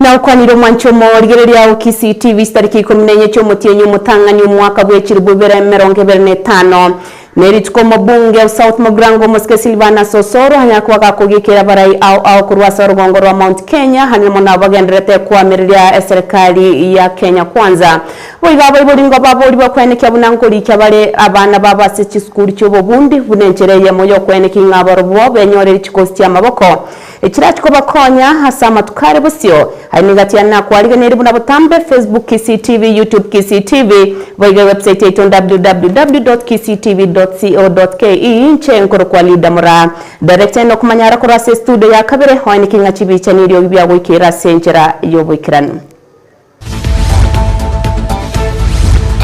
Na okwanire omwanche omo, Rigereria ao KCTV chitariki ikomi na enye chi'omotienyi omotang'ani omwaka bw'echiribu ibere emerongo ebere na etano. Ne rituko omobunge o South Mogrango omosike Silvanus Osoro anyakoba gakogiekera abarai ao ao korwa ase orogongo rwa Mount Kenya hania mono abagendererete koamereria eserekari ya Kenya Kwanza boigo abaibori ngo baborigwe kwenekia buna nkorikia bare abana babo ase chisukuru chi'obobundi buna enchera eyemo y'okwenekia ing'a abarobwo benyore richikosi chi'amaboko Ekirachia kobakonya ase amatuko are bosio, aye nigo achia nakoarigeneiri buna botambe, Facebook Kisii TV, YouTube Kisii TV, boigo ewebsite yaito www.kisiitv.co.ke, inche nkorokwa Lida Mura. Director enoka omanyara korwa ase estudio ya kabere, oeneke ng'a chibicha neriogi biagoikera ase enchera y'oboikeranu.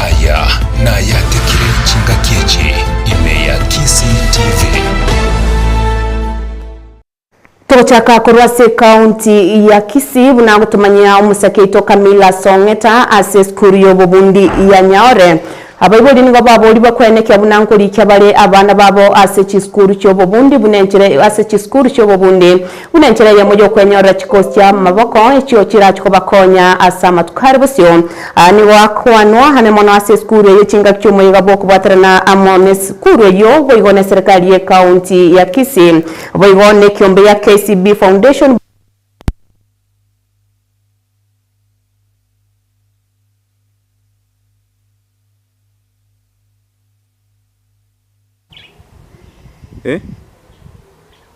Aya nayatekire chingaki echi ime ya Kisii TV. Togochaka korwa ase ekaunti ya Kisii buna gotomanyia omosakia oito Camilla Song'eta ase esukuru y'obobundi ya Nyaore Abaibori nigo baborigwe kwenekia buna nkorikia bare abana babo ase chisukuru chi'obobundi buna enchera ase chisukuru chi'obobundi buna enchera eyemo y'okwenyorera chikosi chi'amaboko echio chirache kobakonya ase amatuko are bosio. Aya nigo akwanwa ane mono ase esukuru eye chingaki chi'omoyega bw'okobwaterana amo n'esukuru eyio boigo n'eserikari y'ekaunti ya Kisii boigo n'ekiombe ya KCB Foundation,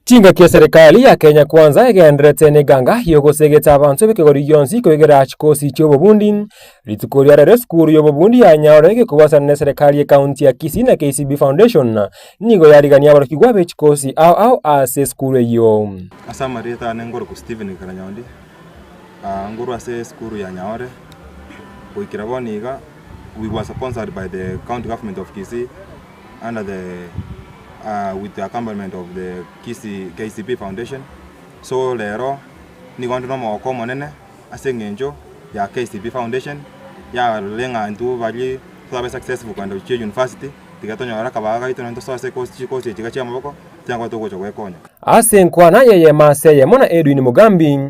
Chingaki eserekari ya Kenya Kwanza egendererete n'eganga y'ogosegeta abanto b'ekegori gionsi koigera chikosi chi'obobundi, rituko ria rero esukuru y'obobundi ya Nyaore gokobwatana n'eserekari y'ekaunti ya Kisii na KCB Foundation nigo yarigania aborokigwa be chikosi ao ao ase esukuru eyio. Ase amarioto aane nkoroku Steven Karanyondi. Aah nguru ase esukuru ya Nyaore, goikera bono iga we were sponsored by the county government of Kisii under the aah with the accompaniment of the Kisii KCB foundation, so rero nigo inde nomogoko omonene ase eng'encho ya KCB foundation yarorire ng'a intwe baria torabe successful kogenda gochia university, tiga tonyore akabaga gaito nonya tosoe ase chikosi chikosi echi iga chi'amaboko, tiga nkoba togocha gwekonya. Ase enkwana eyemo ase eyemo na Edwin Mugambi,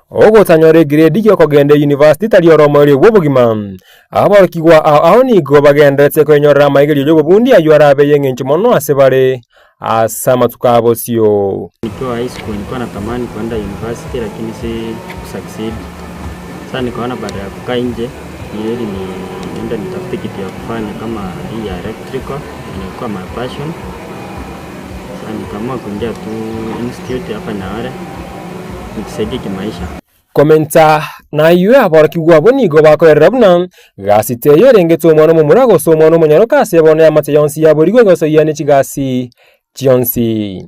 Ogotanyora egiredi gi'okogenda Yunivasiti tari ore omoerio bw'obogima. Aborokigwa ao ao nigo bagendererete koenyorera amaigererio y'obobundi ayio arabe y'engencho mono ase bare ase amatuko a bosio. Komenta nayio aborokigwa abwo nigo bakoerera buna gasito eyo erengete omwana omomura gose omwana omonyaroka ase bono y'amache yonsi yaborigwe egosoyia ne chigasi chionsi.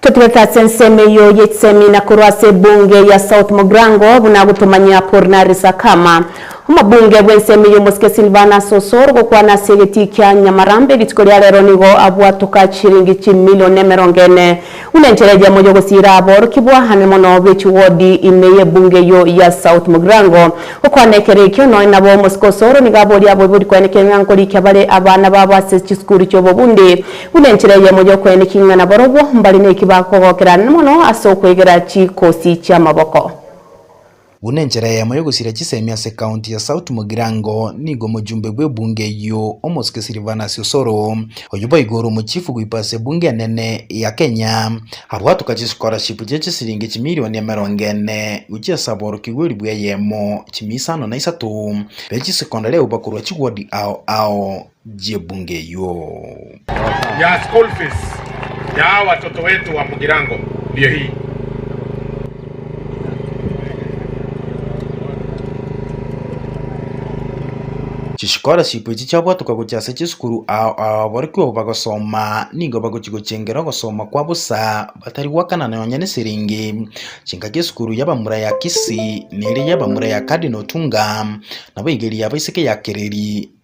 Totigete ase ensemo eyio y'echisemina korwa ase ebunge ya South Mogrango buna agotomanyia Apolinary Sakama, omobunge bw'ensemo y'omosike Silvanus Osoro gokwana ase egetii kia Nyamarambe rituko ria rero nigo abwatoka chiringi chimilion emerongo ene buna enchera eyemo y'ogosiira aborokigwa ane mono b'echiwodi ime y'ebunge eyio ya South Mogrango. Gokwana ekero ekio nonya nabo omosike Osoro nigo aboria aboibori kwenekera ng'a nkorikia bare abana babo ase chisukuru chi'obobundi Buna enchera eyemo y'okoeniki ng'a nabarobwo mbare neki bagokogokera mono ase okwegera chikosi chi'amaboko. Buna enchera eyemo y'ogosira chisemi ase County ya South Mugirango nigo omojumbe bw'ebunge eyio, Omosuke Silvanus Osoro, oyio boigo ore omochifu goikwa ase ebunge enene ya Kenya, abwatoka chischolarship chie chisilingi chimilioni emerongo ene gochia ase aborokigwa elibu eyemo chimia isano na isato be chisecondary agwo bakorwa chiward ao ao. y'ebunge eyio. Chischolarship echi chiabwatoka gochia ase chisukuru ao ababorokigwa bagosoma nigo bagochia gochengera ogosoma kwa bosa batari goakana nonya nesiriingi. Chingaki esukuru y'abamura ya Kisii neria y'abamura ya Cardinal Otunga nabo igeri yabaiseke yakereri.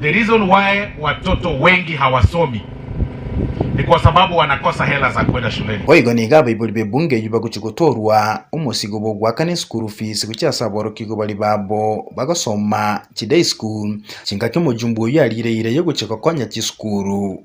The reason why watoto wengi hawasomi ni kwa sababu wanakosa hela za kwenda shuleni. Boigo nigo abaibori b'ebunge eyio bagochia gotoorwa omosigo bw'ogoakana eschool fees gochia ase aborokigwa baria babo bagosoma chiday school, chingaki omojumbe oyio ariire ira y'ogochia gokonya chisukuru.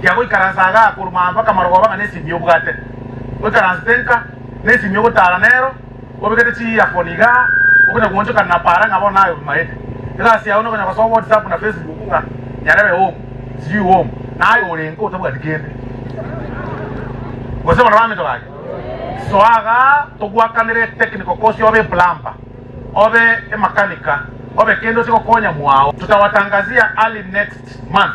Kia goikaransa agaa korwa aa mpaka marogoba ng'a nesimi y'obwate, oikaransete nka nesimi y'ogotaara nero, obekete chiearphone igaa, okonya goonchokana na paara ng'a bono naye obimaete. Egasi yao nokonya gosoa whatsapp na facebook ng'a nyarebe home, sijui home, naye ore nka otabwati kende. Gose barabwo baminto bake. Soa agaa togwakanere technical course obe eplamber, obe emakanika, obe kende ose gokonya mwao. Tutawatangazia early next month.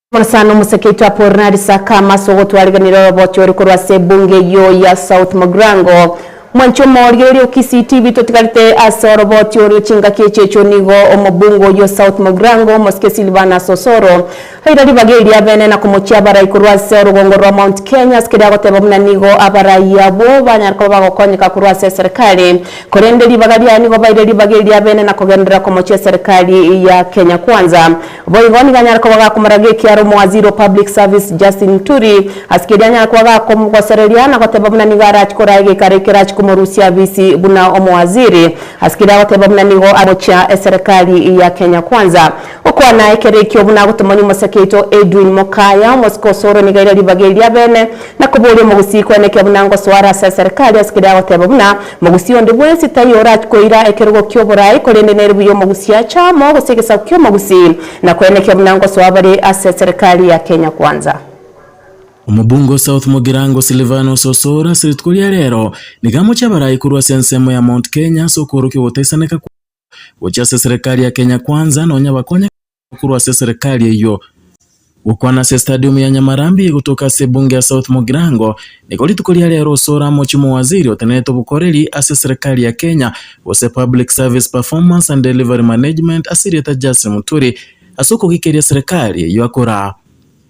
Omosani omosakeitwe Apolinari Sakama ase ogotwariganera oroboti ore korwa ase ebunge eyio ya South Mogrango. Mwancha omooria oria o Kisii TV totigarete ase oroboti orio chingaki echicho nigo omobunge oyio o South Mogrango omosike Silvanus Osoro aira ribaga eria abene na komochia abarai korwa ase orogongo rwa Mount Kenya ase keria agoteba buna nigo abarai abwo banyare koba bagokonyeka korwa ase eserikari korende ribaga riaye nigo baire ribaga eria abene na kogenderera komochia eserikari ya Kenya Kwanza Boigo nigo anyare koba gakomorera g'ekiaro omowaziri o Public Service Justin Muturi. Ase keria anyare koba gakomogosereria na goteba buna nigo arachie koraa egeikaro ekerachie komorusia afisi buna omowaziri. Ase keria agoteba buna nigo amochia eserekari ya Kenya Kwanza. Gokwana ekero ekio buna agotomani omosake oito Edwin Mokaya, omosike osore nigo aire ribaga eri abene na koboria omogusii kweneke buna ngosoare ase eserekari ase keria agoteba buna Mogusia onde bwensi taiyo orach koira ekerogo ki'oborai, korende nere buya omogusia ache amo gose egesaku ki'omogusi, na koenekia buna ngosoa bare ase serikali ya Kenya Kwanza. Omobunge o South Mugirango Silvanus Osoro ase rituko ria rero nigo amochia abarai korwa ase ensemo ya Mount Kenya ase okoorokia ogotaisaneka kwabo gochia ase serikali ya Kenya Kwanza nonya bakonye korwa ase eserekari eyio gokwana ase estadium ya Nyamarambi gotoka ase ebunge ya South Mugirango. Nigo rituko ria rero osore amochie omowaziri otenerete obokoreri ase eserekari ya Kenya gose Public Service Performance and Delivery Management ase erieta Justin Muturi ase okogikeria eserekari eyio akoraa.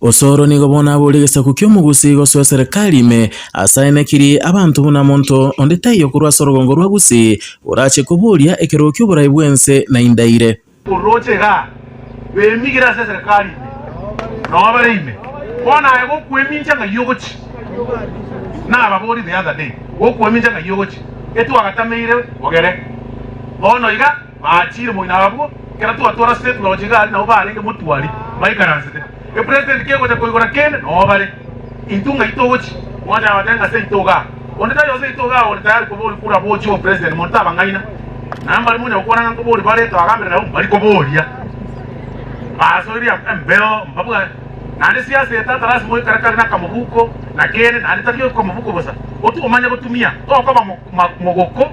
Osoro nigo bono abore egesaku ki'omogusi gosoa eserekari ime ase aye nekiri abanto buna monto onde taiyo korwa ase orogongo rwa Gusii orache koboria ekerogo ki'oborai bw'ense na indaire. Orooche iga, bemigire ase eserekari ime, na obere ime, bono aye gokwemincha ng'ai ogochi? Nababorie the other day, gokwemincha ng'ai ogochi? Etwagatameire ogere bono iga. Aachire moino abwo, ekero twatwara State Lodge iga aria nabo barenge motwari baikaransete. E President kegocha koigora kende noo bare. Intwe ng'ai togochi? Mwancha abatebia ng'a ase intwe iga aa. Onde tari ose intwe iga aa ore tayari koba ore kura bochie obe President monto abang'aina. Na mbari monyare gokwana ng'a nkoba ore bare twagambire nabo mbari koba oria. Basoiria embeo mbabua naende siasa eye tata lasima oikare kare na akamobuko na kende naende tari akamobuko bosa. Otiga omanye gotumia tokoba mogoko.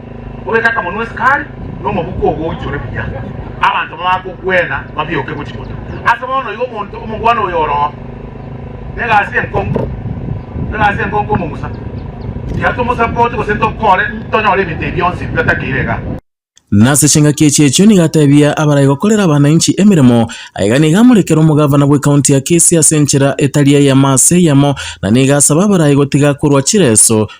orete akamanu ase kare, na omobuko ogocha ore buya, abanto bagokwena babioke gochia konywa. Ase bono igo omonto omogwene oyo oroo negasi enkong'u, egasi enkong'u komong'usa, tiga tomosapote gose tokore tonyore ebinto ebi bionsi bitatakeirie igaa. Na ase chingaki echi echio nigo ateebia abarai gokorera abananchi emeremo, aye iga nigo amorekera omogavana bw'ekaunti ya Kisii ase enchera etari eyemo ase eyemo, na nigo asaba abarai gotiga korwa chireso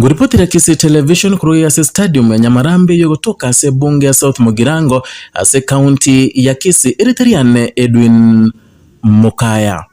Kuripoti la Kisii Television korwa ase Stadium ya Nyamarambi eyogotoka ase Ebunge ya South Mugirango ase County ya Kisii, erite riane Edwin Mukaya.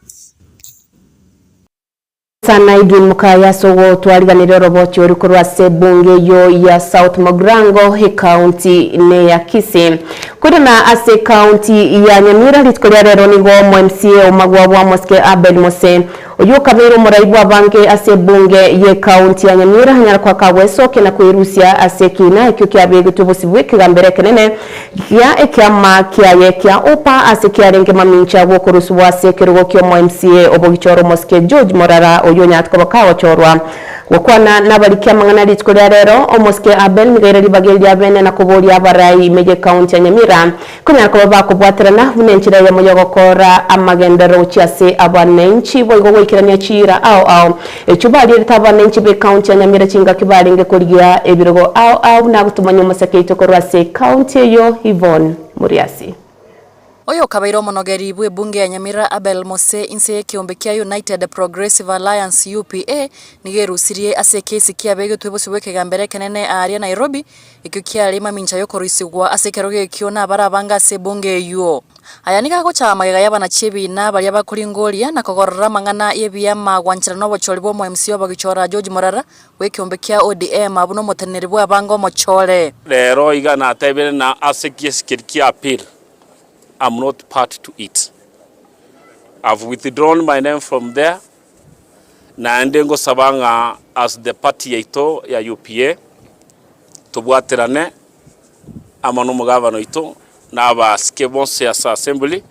Sana Edwin Mukaya ase ogotwariganera orobochi oria korwa ase Ebunge eyio ya South Mugirango ecounty neya Kisii. Korende na ase ecounty ya Nyamira rituko ria rero nigo omo mca omagwa bwa Mosike Abed Mose Oyio okabeire omorai bw'abange ase ebunge y'ecounty ya Nyamira anyare koaka gwesokia na kwerusia ase ekiina ekio kiabegetwe bosio bw'ekegambero ekenene gia ekiama kiaye kia Upa ase kiarenge mamincha gw'okorusubwa ase ekerogo ki'omo MCA obogichora omosike George Morara oyio onyarete koba kagochorwa gokwana nabariki amang'ana rituko ria rero. Omosike Abel Migaire ribaga eri riabeene na koboria abarai ime y'ecounty ya Nyamira Konyara koba bakobwaterana buna enchera eyemo y'ogokoora amagenderero gochia ase abananchi, boigo goikerania chiira ao ao echio barierete abananchi b'Ekaunti ya Nyamira chingaki barenge korigia ebirogo ao ao buna agotomania omoseke oito korwa ase Ekaunti eyio Yvonne Muriasi. Oyo okabaire omonogeri bw'ebunge ya Nyamira Abel Mose inse y'ekeombe kia United Progressive Alliance, UPA, nigo erusirie ase ekesi kiabegetwe bosio bw'ekegambero ekenene aaria Nairobi, Ekio kiarenge mamincha y'okoroisigwa ase ekerogo ekio nabare abange ase ebunge eyio. Aya nigo agochaya magega y'abanachi ebiina baria bakoringoria na kogorora amang'ana y'ebiama gwanchera n'obochori bw'omoMCA obagichora George Morara bw'ekeombe kia ODM abwo n'omoteneneri bw'abange omochore. Rero iga natebire na ase giesikeri kia appeal am not party to it. I've withdrawn my name from there Naende ngosaba ng'a as the party yaito ya UPA tobwaterane amo n'omogavana oito na abasike bonsi ase assembly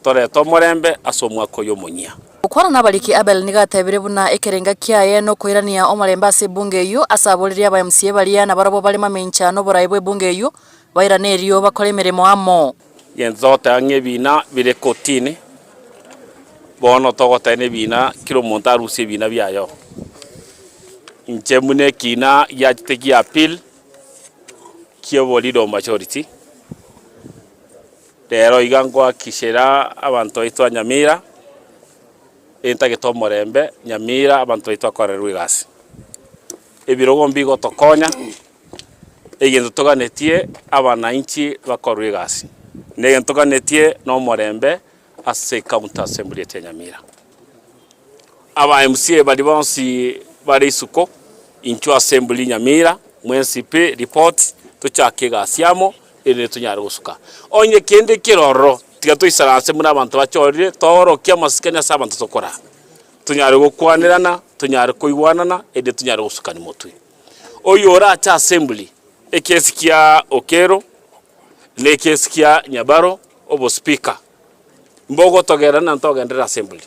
torete omorembe ase omwaka oyo omonyia. Gokwana nabariki Abel nigo atebire buna ekerenga kiaye nokoirania omorembe ase ebunge eyio ase aboririe aba mca baria nabarobwo bare mamencha noborae bw'ebunge eyio bairane erio bakore emeremo amo. Genchote ang'e ebina bire kotini, bono togotena ebina kera omonto arusie ebina biaye. Inche buna ekina giachete gia appeal ki'oboridom majority, rero iga ngoakikishera abanto baito ba Nyamira entagete omorembe Nyamira abanto baito bakorerwe egasi. Ebirogo mbigotokonya. Egento toganetie abanainchi bakorwe egasi, negento toganetie nomorembe ase County Assembly eria Nyamira. Aba MCA baria bonsi bare isuko intwe Assembly Nyamira, mwensipe report tochake egasi amo erinde tonyare gosuka onye kende keroro tiga toisana ase buna abanto bachorire toorokie amasikani ase abanto tokoraa. Tonyare gokwanerana, tonyare koigwanana erinde tonyare gosukani motwe. Oyio ore ache asembli, ekiesi kia Okello na ekiesi kia Nyabaro obospeaker, mbogotogerera na ntogenderere asembli.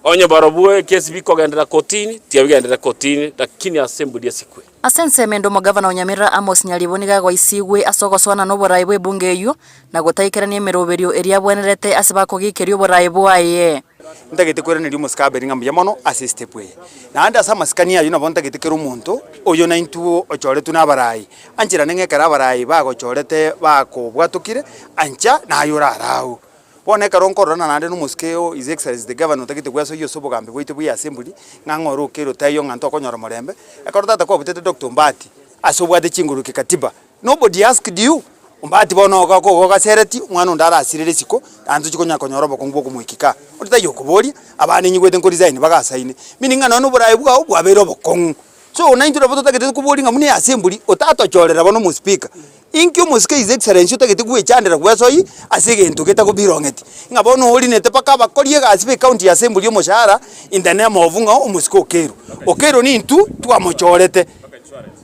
Onye barobwo ekiesi bikogenderera kotini, tiga bigenderere kotini, lakini asembli esikwe. Ase ensemo ende omogavana o Nyamira Amos Nyaribo nigo agoisigwe ase ogosoana noboraai bw'ebunge eyio na gotaikerania emeroberio eria abwenerete ase bakogiikeria oboraai bwaye. Ntagete kweraneria omosike Abeli ng'a mbuya mono ase esitepu eye, naende ase amasikani ayio nabo ntagete kera omonto oyio naintwe ochoretwe nabarai ancherane ng'a ekero abarai bagochorete bakobwatokire ancha naye orare agwo. Bono ekero nkororana naende na omosike oo His Excellency the Governor otagete gwesoyia ase obogambi bwaito bwa Assembly ng'a ng'a oroke erotaiyo ng'a ntokonyora omorembe, ekero tata kwabutete Doctor Ombaati ase obwate chinguru kikatiba Nobody asked you? Ombati bono oga ko igo ogasereti, omwana onde arasire risiko, naende tochi konyara konyora obokongu bw'okomoika kaa. Onde taiyo okoboria, abana ninyigwete nkoresign bagasaine, meaning ng'a nonye na oborae bwao bwabeire obokong'u. So naintwe nabo totagete koboria ng'a buna eyase emburi, otatochorera bono omospika. Inki omosike his excellency otagete gwechandera bwesoyi ase egento getagobirong'eti, ng'a bono orinete mpaka abakori egasi be county ya assembly omoshahara in the name of ng'a omosike okeirwe. Okeirwe nintwe twamochorete.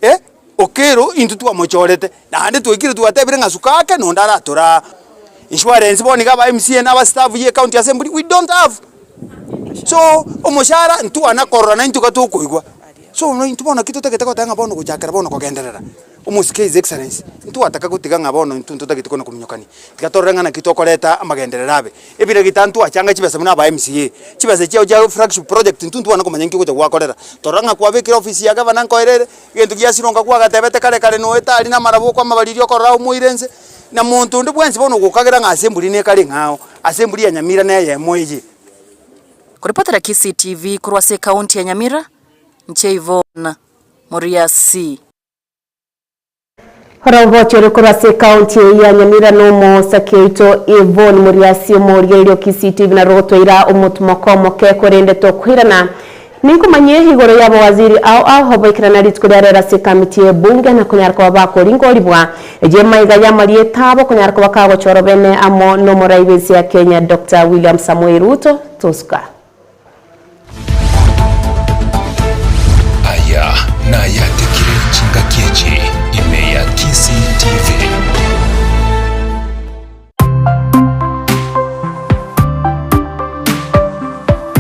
Eh. Okello intwe twamochorete naende twaikire twatebire ng'a suka ake nonde aratore aa. Insurance bono iga aba mca na aba staff ye county assembly we don't have. So omoshara ntwana korora na intwe iga tokoigwa. So no intwe bono naki totagete goteba ng'a bono gochakera bono kogenderera omosike his excellency ntwataka gotiga ng'a bono intwe ntotagete kona kominyokania tiga torore ng'a naki tokoreta amagenderero abe. Ebira gitano twachanga chibesa buna aba mca chibesa chiao chia flagship project intwe ntwane komanya nki ogocha gwakorera torora ng'a kwabekire office ya gavana nkoerere Egento giasironka kwagatebete kare kare noe tari namarabwo kwamabariria okorora aye omoire nse, na monto onde bwensi bono ogokagera ng'a ase emburi nekare ing'ao, ase emburi ya Nyamira neyemo eye. Koripotera Kisii TV korwa ase ekaunti ya Nyamira, inche Yvonne Moriasi. Orogocho ore korwa ase ekaonti eye ya Nyamira n'omosake oito Yvonne Moriasi omoria erio Kisii-TV narotwaira omotumoko omoke korende tokoirana ninkomanyie igoro y'abawaziri ao ao baikirana rituko ria rero ase ekamiti y'ebunge na konyara koba bakoringoribwa eyio emaiga y'amarieta abo okonyara koba kagochorwa bene amo n'omorai b'ense ya Kenya Doctor William Samoei Ruto. Tosuka. Aya nayatekire chingaki echi ime ya Kisii TV.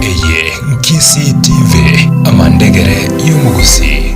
Eye Nkisii TV, amandegere y'omogusii.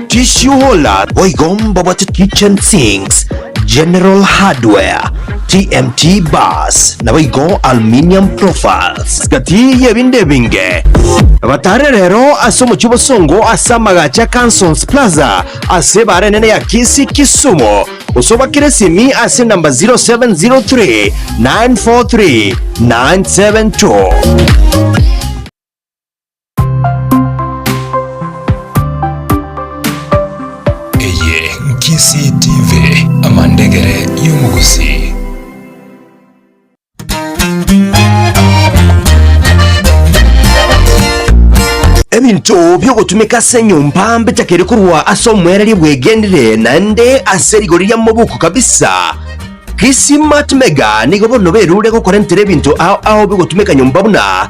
Tissue Holder boigo mbabwate Kitchen Sinks, General Hardware, TMT Bars, nabo igo Aluminium Profiles. Gati y'ebinde ebinge, batare rero ase omochie bosongo ase amagache a Cansons Plaza ase ebare enene ya Kisii, Kisumu. Osobakere esimi ase enamba 0703 943 972. Eye Nkisii TV, amandegere y'omogusii. Ebinto biogotumeka ase enyomba mbechakire korwa ase omoereria bwegenire naende ase rigori ria mobuku kabisa. Kisii Mart Mega nigo bono berure gokorentera ebinto ao ao bigotumeka nyomba buna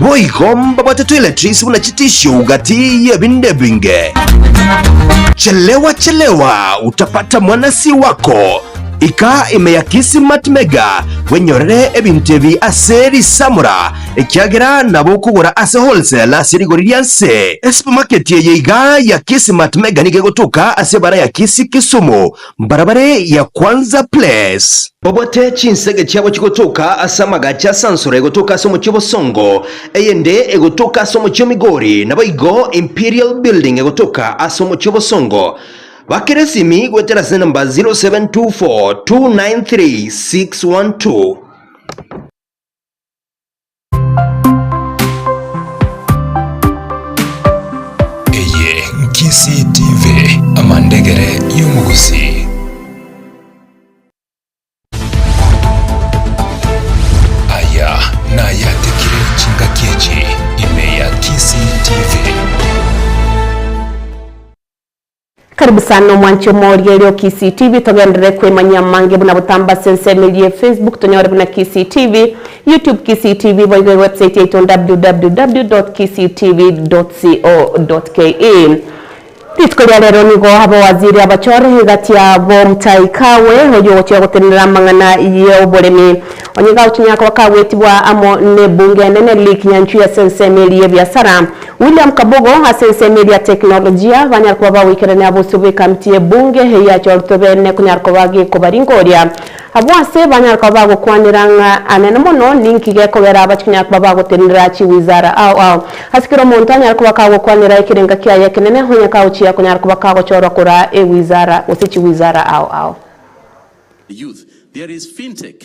Boigo mbabwate toiletries buna chitisio gati y'ebinde ebinge. Chelewa chelewa utapata mwanasi wako. Ika ime ya Kismat Mega bwenyorere ebinto ebi ase risamura ekiagera nabo okogora ase wholesale ase rigori ria nse. Esupermarket eye iga ya Kismat Mega nigo egotoka ase ebara ya Kisii Kisumu. Barabare ya kwanza please. Obwate chinsege chiabo chigotoka ase amagache a Sansora egotoka ase omochie o Bosongo, eyende egotoka ase omochie o Migori, naboigo Imperial Building egotoka ase omochie o Bosongo. Bakera esimi goetera ase enamba 0724 293 612. Eye Nkisii TV, amandegere y'omogusii. Aya nayatekire chingaki echi ime ya Kisii TV. Karibu sana omwanche omooria erio Kisii TV togenderere koimanyia amange buna botambe ase ensemo eria ye Facebook tonyore buna Kisii TV, YouTube Kisii TV boigo ewebsite yaito www.kisiitv.co.ke. Rituko ria rero nigo abawaziri abachore egati yabo Mutahi Kagwe oyio ogochia gotenenera amang'ana y'oboremi onye gagochinyara koba kagwetibwa amo n'ebunge enene Lee Kinyanjui ase ensemo eria y'ebiasara William Kabogo, ase ensemo eria teknolojia, banyare koba bagoikerania abosio bw'ekamiti y'ebunge eyio achoretwe beene konyara koba gekobaringoria. Abwo ase banyare koba bagokwanera ng'a anene mono ninki gekogera abache konyara koba bagotenenera chiwizara ao ao. Ase kera omonto anyare koba kagokwanera ekerenga kiaye ekenene, onye kagochia konyara koba kagochorwa koraa ewizara gose chiwizara ao ao. Youth, There is fintech.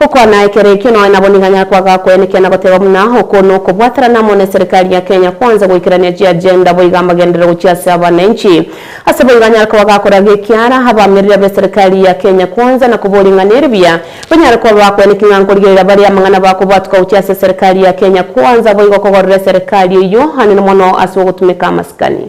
Gokwana ekero ekio noe nabo niga nyakoaga koya nekiana goteba buna oko nokobwaterana amo ne serikali ya Kenya kwanze goikerania chi agenda boiga amagenderero gochia ase abananchi. Ase boiga anyare koba gakora gekiara abamereri abe serikali ya Kenya kwanze na koboria ng'a neri buya banyare koba bakoya neki ng'a nkorigereria baria amang'ana bakobwatuka gochia ase serikali ya Kenya kwanza boigo kogorera eserikali eyio anene mono ase ogotumeka amasikani.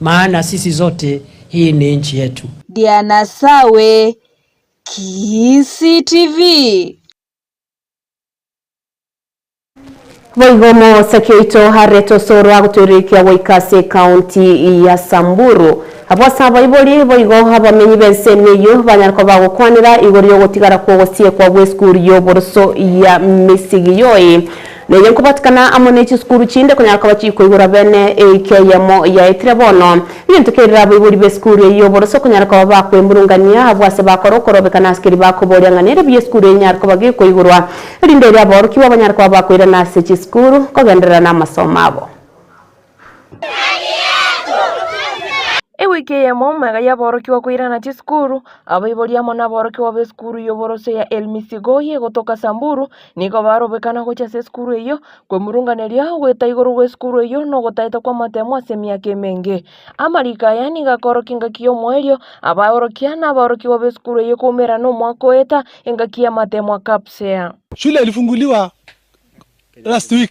Maana sisi zote hii ni nchi yetu. Diana Sawe, Kisii TV. Boigo omosaki oito arete osoro agotoirokia goika ase ekaunti ya Samburu. Abwo ase abaibori boigo abamenyi b'ensemo eyio banyare koba bagokwanera igoro y'ogotigara kw'ogosiekwa gw'esukuru y'oboroso ya Misigiyoi. Neye nkobatikana amo ne chisukuru chinde konyara koba chikoigora bene eike eyemo yaetire bono. Egento kerire aboibori b'esukuru eye y'oboroso okonyara koba bakwemurungania abwo ase bakore okorobeka n'asikeri bakoboria ng'a nere bi esukuru eye nyare koba gekoigorwa erinde erio aborokigwa banyare koba bakoirana ase chisukuru kogenderera namasomo abo. Ewiki eyemo mega y'aborokigwa koirana chisukuru, abaibori amo naborokigwa b'esukuru y'oborosio ya El Misigoi egotoka Samburu nigo barobekana gochia ase esukuru eyio. Kwemurunganeria goeta igoro gw'esukuru eyio nogotaeta kw'amatemo ase emiaka emenge. Amariko aya nigo akorokia engaki y'omoerio, abaorokia naborokigwa b'esukuru eyio koumera nomwaka oeta engaki y'amatemo aa KAPSEA. Shule ilifunguliwa last week.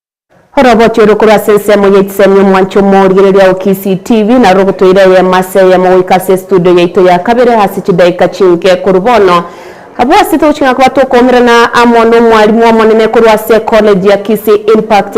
Orobochori korwa ase ensemo ya Echisemi Omwancha Omorigereria o Kisii TV naro rogotoira eyemo ase eyemo goika ase estudio yaito ya kabere ase chidaeka chinke korwa bono. Abwo ase togochika koba tokoumerana amo nomwarimu omonene korwa ase College ya Kisii Impact